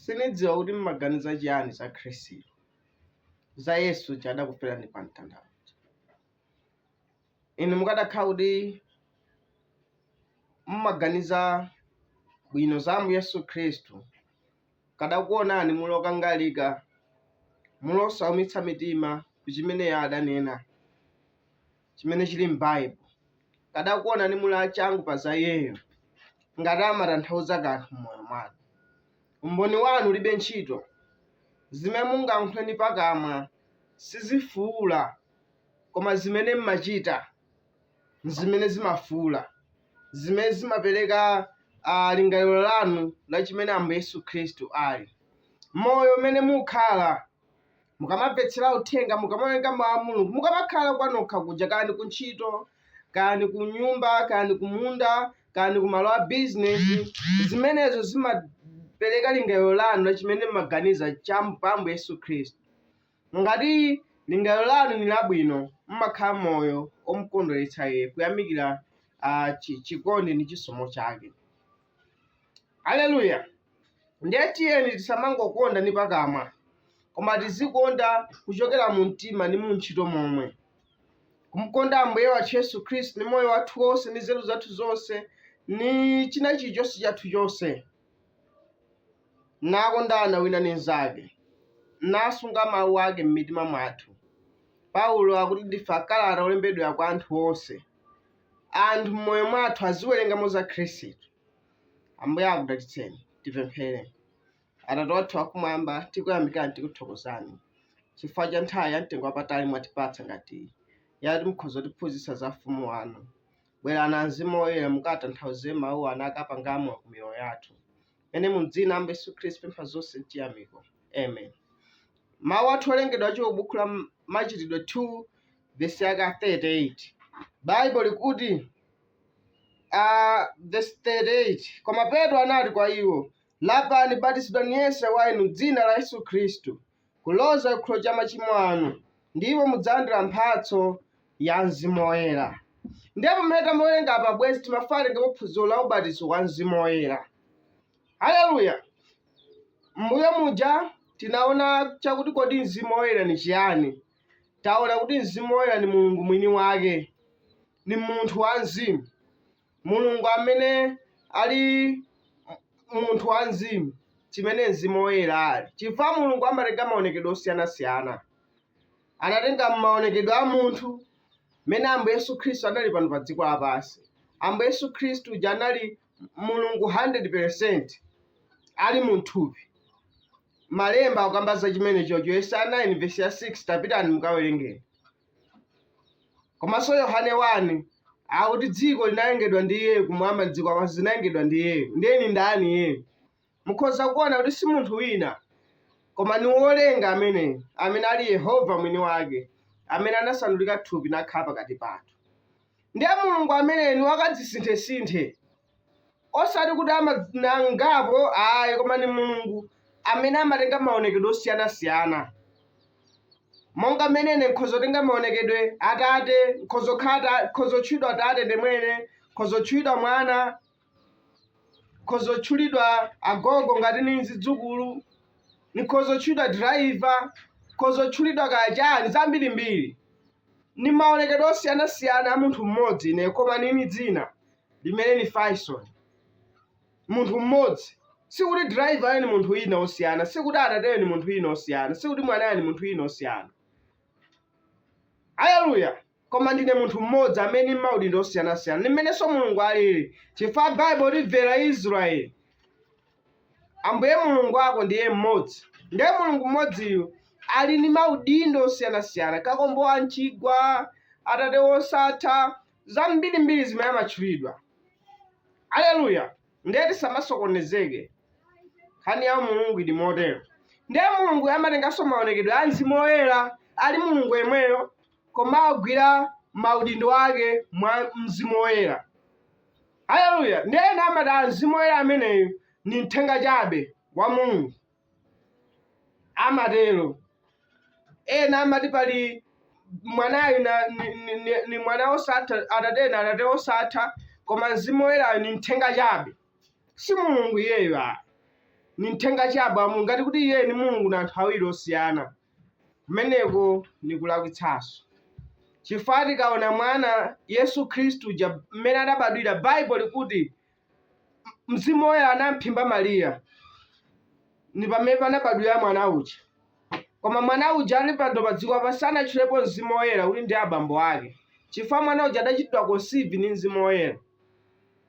Sinidziwa kuti m'maganiza chiyani za Khristu, za Yesu uja adakuferani pa mtanda uja. Inu mukadakhala kuti m'maganiza bwino za Ambuye Yesu Khristu, kadakuonani muli okangalika, muli osaumitsa mitima ku chimene Iye adanena. chimene chili m'Baibo. Kadakuonani muli achangu pa za iyeyo, ngati amatanthauza kanthu m'moyo mwanu. Umboni wanu ulibe ntchito. Zimene mungankhule ndi pakamwa sizifuula, koma zimene m'machita n'zimene zimafuula, zimene zimapereka ah, lingaliro lanu la chimene Ambuye Yesu Khristu ali. Moyo umene mukhala mukamamvetsera uthenga mukamawerenga mawu a mulungu mukamakhala kwanokha kuja kaya ndi kuntchito kaya ndi kunyumba kaya ndi kumunda kaya ndi kumalo a bizinesi zimenezo zimapereka lingaliro lanu la chimene mumaganiza cha pa Ambuye yesu khristu ngati lingaliro lanu ni labwino mmakhala moyo omkondweretsa iye kuyamikira ah, chi- chikondi ndi chisomo chake Haleluya! Ndiye tiyeni tisamangokonda ndi pakamwa, koma tizikonda kuchokera mu mtima ndi mu ntchito momwe, kumkonda Ambuye wathu Yesu Khristu ndi moyo wathu wonse ndi nzeru zathu zonse ndi china chilichonse chathu chonse, nakondana wina ndi mnzake, nasunga mawu ake m'mitima mwathu. Paulo akuti ndife akalata olembedwa kwa anthu onse, anthu m'moyo mwathu aziwerengamo za Khristu. Ambuye akudalitseni. Tipemphere. Atate wathu wakumwamba, tikuyamikani, tikuthokozani chifukwa cha nthawi ya mtengo wapatali mwatipatsa ngati iyi yati mukhoza kutiphunzitsa za ufumu wanu. Bwerani a Mzimu Woyera mukatanthauze mawu anu akapangamo ku miyoyo yathu. Mene mu dzina la Ambuye Yesu Khristu pempha zonse mchiyamiko. Amen. Mawu athu owerengedwa achoka m'buku la Machitidwe 2 vesi yaka 38 baibo likuti ah, vesi 38 koma petro anati kwa iwo lapani batizidwani yense wa inu m'dzina la yesu khristu kuloza chikhululukiro cha machimo anu ndipo mudzalandira mphatso ya mzimu woyera ndipo pamene tamawerenga apa bwezi timapitiriza phunziro la ubatizo wa mzimu woyera haleluya mbuyo muja tinaona chakuti kodi mzimu woyera ni chiyani Taona kuti Mzimu Woyera ni Mulungu mwini wake, ni munthu wa mzimu, Mulungu amene ali munthu wa mzimu, chimene Mzimu Woyera ali, chifukwa Mulungu amatenga maonekedwe osiyana-siyana. Anatenga maonekedwe a munthu, mmene Ambuye Yesu Khristu anali pano pa dziko lapansi. Ambuye Yesu Khristu uja anali Mulungu 100% ali mu mthupi. Malemba akukamba za chimenechocho, Yesaya 9 vesi ya 6, tapitani mukawerengeni. Komanso Yohane 1 akuti dziko linalengedwa ndi iyeyo kumwamba ndi dziko lapansi zinalengedwa ndi iyeyo. Ndiye ni ndani iyeyo? Mukhoza kuona kuti si munthu wina, koma ni wolenga ameneyo, amene ali Yehova mwini wake, amene anasandulika thupi nakhala pakati pathu. Ndiye Mulungu ameneyo ni wakadzisinthesinthe. osati kuti amanangapo ayi koma ni mulungu amene amatenga maonekedwe osiyanasiyana monga mmene ine nkhozotenga maonekedwe atate nkhozokhala nkhozotchulidwa tate ndemwene nkhozotchulidwa mwana nkhozotchulidwa agogo ngati ni zidzukulu nkhozotchulidwa driver nkhozotchulidwa kachani zambirimbiri ni maonekedwe osiyanasiyana a munthu mmodzi ine koma nini dzina limene ni faison munthu mmodzi sikuti driver ni munthu wina osiyana sikuti atateyo ni munthu wina osiyana sikuti mwanayo ni munthu wina osiyana aleluya koma ndine munthu mmodzi amene ni maudindo osiyanasiyana ndi mmenenso mulungu alili chifukwa baibo liti bvera israeli ambuye mulungu wako ndiye mmodzi ndiye mulungu mmodziyu ali ndi maudindo osiyanasiyana kakombo wa mchigwa atate wosatha zambirimbiri zimene amatchulidwa aleluya ndiye tisamasokonezeke nkhani ya mulungu ili motero ndiye mulungu amatenganso maonekedwe a mzimu woyera ali mulungu yemweyo koma agwira maudindo ake mwa mzimu woyera aleluya ndiye ena amati a mzimu woyera ameneyu ni mthenga chabe wa mulungu amatero. Ena amati pali mwanayu ni mwana osatha atate na atate osatha koma mzimu woyerayo ni mthenga chabe si mulungu iyeyo a ni mthenga chabe amu ngati kuti iyeyo ni mulungu na anthu awiri osiyana kumeneko ni kulakwitsanso chifukwa tikaona mwana yesu khristu uja mmene adabadwira baibo likuti mzimu woyera anamphimba mariya ni pamene panabadwira mwana uja koma mwana uja ali pano pa dziko apa sanatchulepo mzimu woyera kuti ndi abambo ake chifukwa mwana uja adachitidwa conceive ni mzimu woyera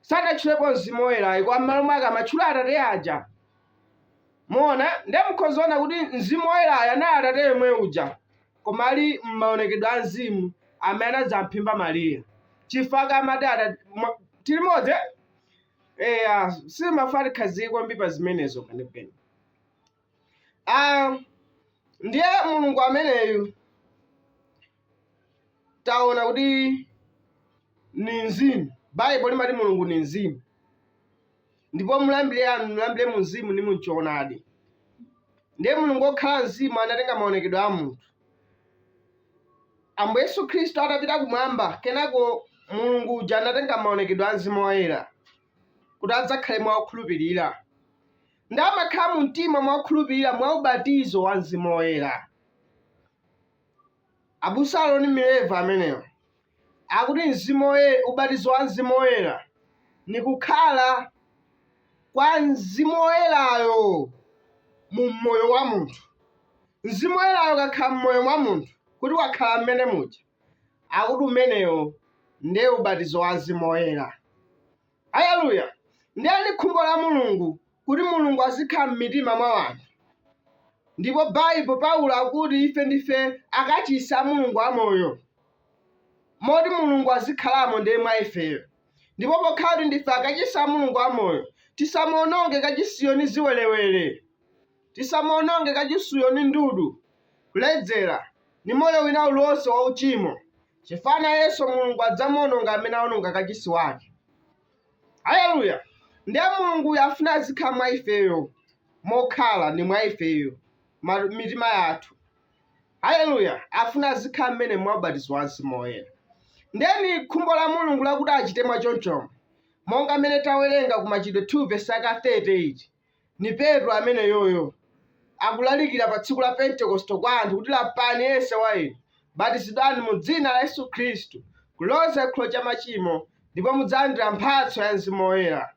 sanatchulepo mzimu woyera ayi koma m'malo mwake amatchula atate aja muona ndiye mukhozaona kuti mzimu woyerayo anali atate yemwe uja koma ali m'maonekedwe a mzimu amene anadzamphimba Mariya chifukwa amati ada- mwa- tili modzi eh? eya sindifuna tikhazikike kwambiri pa zimenezo penepene Ah, ndiye mulungu ameneyu taona kuti ni mzimu baibo limati mulungu ni mzimu ndipo omulambira amulambire mu mzimu ndi mu choonadi ndiye mulungu wokhala mzimu anatenga maonekedwe a munthu ambuye yesu khristu atapita kumwamba kenako mulungu uja anatenga maonekedwe a mzimu woyera kuti adzakhale mwa okhulupirira ndi amakhala mu mtima mwa okhulupirira mwa ubatizo wa mzimu woyera abusa aloni mileva amenewo Akuti u- ubatizo wa Mzimu Woyera, ni kukhala kwa Mzimu Woyerayo mu moyo wa munthu. Mzimu Woyerayo ukakhala m'moyo mwa munthu, kuti wakhala mmene muja, akuti umenewo ndiye ubatizo wa Mzimu Woyera. Aleluya! Ndiye ni khumbo la Mulungu kuti Mulungu azikhala m'mitima mwa anthu. Ndipo Baibo, Paulo akuti ife ndife akachisi a Mulungu amoyo, moti Mulungu azikhalamo ndiye mwa ifeyo. Ndipo pokhala kuti ndife akachisi a Mulungu amoyo, tisamuononge kachisiyo ni ziwerewere. Tisamuononge kachisiyo ni ndudu, kuledzera, ni moyo wina uliwonse wauchimo. chifukwa nayenso mulungu adzamuononga amene aononga kachisi wake haleluya ndiye mulunguyo afuna azikhala mwa ifeyo mokhala ndi mwa ifeyo ma- mitima yathu haleluya afuna azikhala mmenemo mwa ubatizo wa mzimu woyera nde ni khumbo la mulungu lakuti achite mwa chonchomo monga mmene tawerenga ku machitidwe 2 vesi aka 38 Ni Petro ameneuyo, akulalikila pa tsiku la Pentekosito kwa anthu kuti, Lapani yense wa inu, batizidwani mu dzina la Yesu Khristu kuloza cikhululuko ca macimo, ndipo mudzalandila mphatso ya mzimu woyela.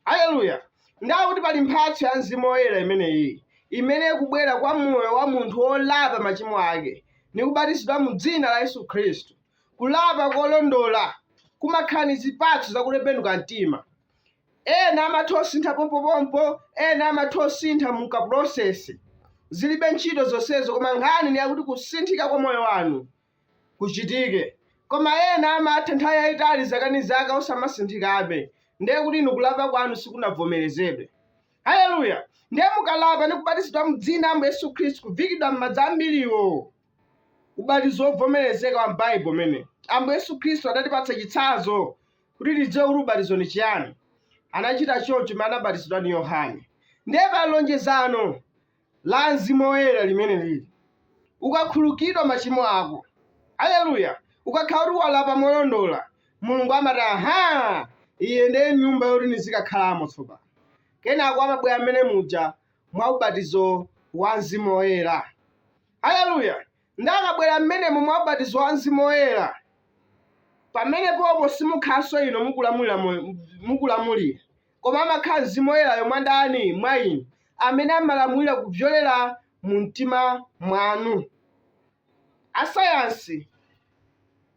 Aleluya! Ndiye kuti pali mphatso ya mzimu woyela imeneyi, imene ikubwela kwa moyo wa munthu wolapa macimo ake, ni kubatizidwa mu dzina la Yesu Khristu. Kulapa kolondola kumakhala ni zipatso za kutembenuka mtima. Ena amatha kusintha pompopompo, ena amatha kusintha mu ka process. Zilibe ntchito zonsezo koma nkhani ni yakuti kusinthika kwa moyo wanu kuchitike. Koma ena amatha nthawi yayitali zaka ni zaka osamasinthikabe, ndiye kuti inu kulapa kwanu sikunavomerezedwe. Haleluya! Ndiye mukalapa ni kubatizidwa mu dzina Ambuye Yesu Khristu, kuviikidwa m'madzi ambiriwo, ubatizo wovomerezeka wa m'Baibo umenewo. Ambuye Yesu Khristu adatipatsa chitsanzo kuti tidziwe kuti ubatizo ndi chiyani. Anachita choncho pamene anabatizidwa ndi Yohane. Ndiye pali lonjezano la mzimu woyera limene lili ukakhululukidwa machimo ako, aleluya, ukakhala kuti walapa molondola, Mulungu amati aha, iyi ndiye nyumba yoti nizikakhalamo tsopano. Kenako amabwera mmene muja mwa ubatizo wa mzimu woyera, aleluya. Nde akabwera mmenemo mwa ubatizo wa Mzimu Woyera, pamenepopo simukhalanso inu mukulamulira moyo, mukulamulira, koma amakhala Mzimu Woyerayo mwa ndani? Mwa inu, amene amalamulira kupyolera mu mtima mwanu. Asayansi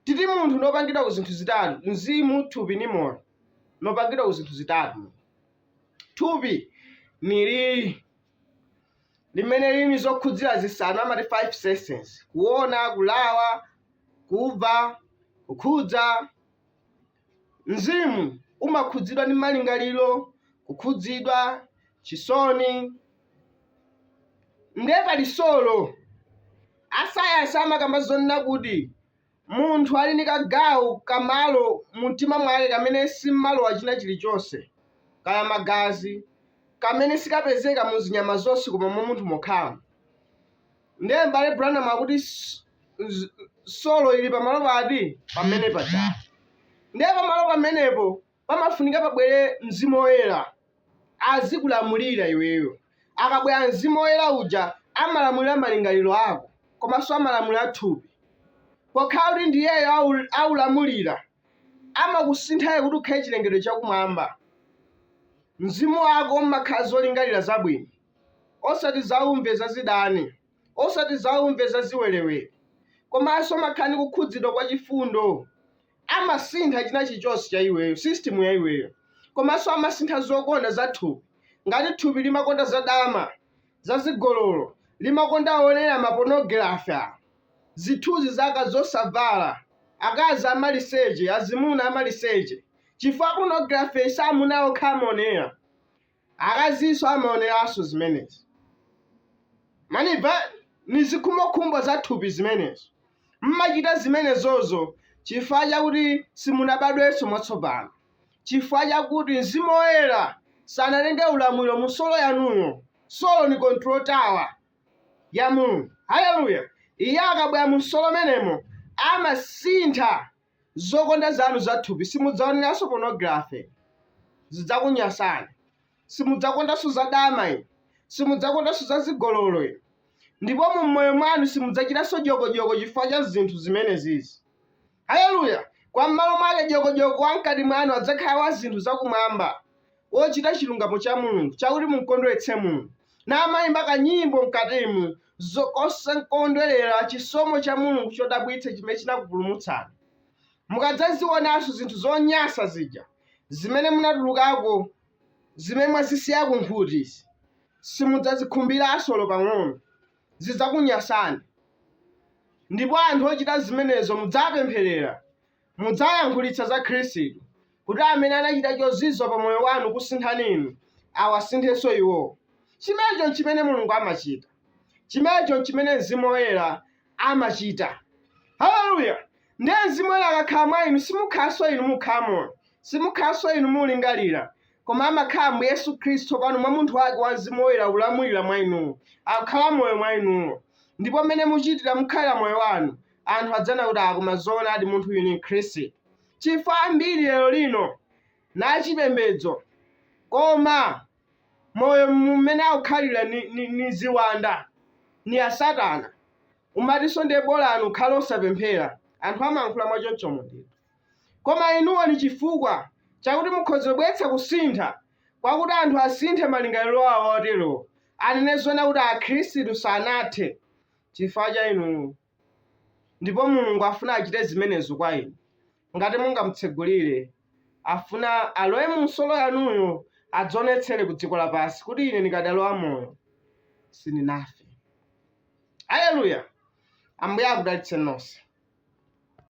ati munthu nopangidwa ku zinthu zitatu, mzimu, thupi, ndi moyo, nopangidwa ku zinthu zitatu. Thupi ni li, limene lili zokhudzira zisanu amati five senses kuona kulawa kumva kukhudza mzimu umakhudzidwa ndi malingaliro kukhudzidwa chisoni ndiye pali solo asayansi amakamba zonena kuti Munthu ali ndi kagawo ka malo mu mtima mwake kamene sim'malowa china chiri chonse, kaya magazi, kamene sikapezeka mu zinyama zonse koma mwa munthu mokhamu. Ndiye M'bale Branham akuti solo ili pamalo pati? Pamene pajatu. Ndiye pamalo pamenepo, pamafunika pabwere Mzimu Woyera azikulamulira iweyo. Akabwera Mzimu Woyera uja amalamulira malingaliro ako komanso amalamulira thupi. Pokhala kuti ndi iyeyo awulamulira, amakusinthayo kuti ukhale chilengedwe chakumwamba. Mzimu wako umakhala zolingalira zabwino, osati zaumve zazidani, osati zaumve zaziwerewere, komanso umakhala ndi kukhudzidwa kwa chifundo, amasintha chinachilichonse cha iweyo, system ya iweyo, komanso amasintha zokonda za thupi. Ngati thupi limakonda za dama, za zigololo, limakonda onera ma pornography, zithunzi za akazi osavala, akazi amaliseche, azimuna amaliseche, chifukwa pornography si amuna okha amaonera. Akazinso amaoneranso zimenezi. Mwandimva? Ndi zikhumbokhumbo za thupi zimenezo. Mumachita zimenezozo chifukwa chakuti simunabadwenso mwatsopano, chifukwa chakuti Mzimu Woyera sanatenge ulamuliro mu solo yanuyo. Solo ndi control tower ya Mulungu. Haleluya! Iye akabwera mu solo menemo, amasintha zokonda zanu za thupi, simudzaoneranso pornography, zidzakunyasani, simudzakondanso za dama inu, simudzakondanso za zigololo inu, ndipo mu moyo mwanu simudzachitanso dyokodyoko chifukwa cha zinthu zimenezizi. Haleluya! Kwa m'malo mwake dyokodyoko wa mkati mwanu adzakhala wa zinthu zakumwamba, zochita chilungamo cha Mulungu chakuti mumkondweretse Mulungu, namayimba kanyimbo mkatimu, zokondwerera chisomo cha Mulungu chodabwitsa chimene chinakupulumutsani. Mukadzazionanso zinthu zonyansa zija zimene munatulukako, zimene mwazisiya kunkhuti zi, simudzazikhumbiranso olo pang'ono. Zidzakunyansani, ndipo anthu ochita zimenezo mudzawapempherera. Mudzayankhulitsa za Khristu, kuti amene anachita chozizwa pa moyo wanu kusinthani inu, awasinthenso iwo. Chimenecho nchimene Mulungu amachita. Chimenecho nchimene Mzimu Woyera amachita. Aleluya! Ndiye Mzimu Woyera akakhala mwa inu, simukhalanso inu mukukhala moyo, simukhalanso inu mukulingalira, koma amakhala Ambuye Yesu Khristu pano mwa Munthu Wake wa Mzimu Woyera akulamulira mwa inuwo, akukhala moyo mwa inuwo. Ndipo mmene muchitira, mukhalira moyo wanu, anthu adzaona kuti ah koma zoonadi munthu uyu ni mkhristu chifukwa ambiri lero lino ali na chipembedzo koma moyo mmene akukhalira ni, ni, ni ziwanda ni asatana umatinso ndiye bola munthu ukhale osapemphera anthu amankhula mwachonchomo ndithu koma inuwo ni chifukwa chakuti mukhoza kubweretsa kusintha kwakuti anthu asinthe malingaliro awo oterowo anene zoona kuti akhristu sanathe chifukwa cha inu, ndipo Mulungu afuna achite zimenezo kwa inu, ngati mungamutsegulire, afuna alowe mu solo yanuyo, adzionetsere ku dziko lapansi, kuti ine ndikadali wamoyo, sindinafe. Aleluya! Ambuye akudalitse nonse.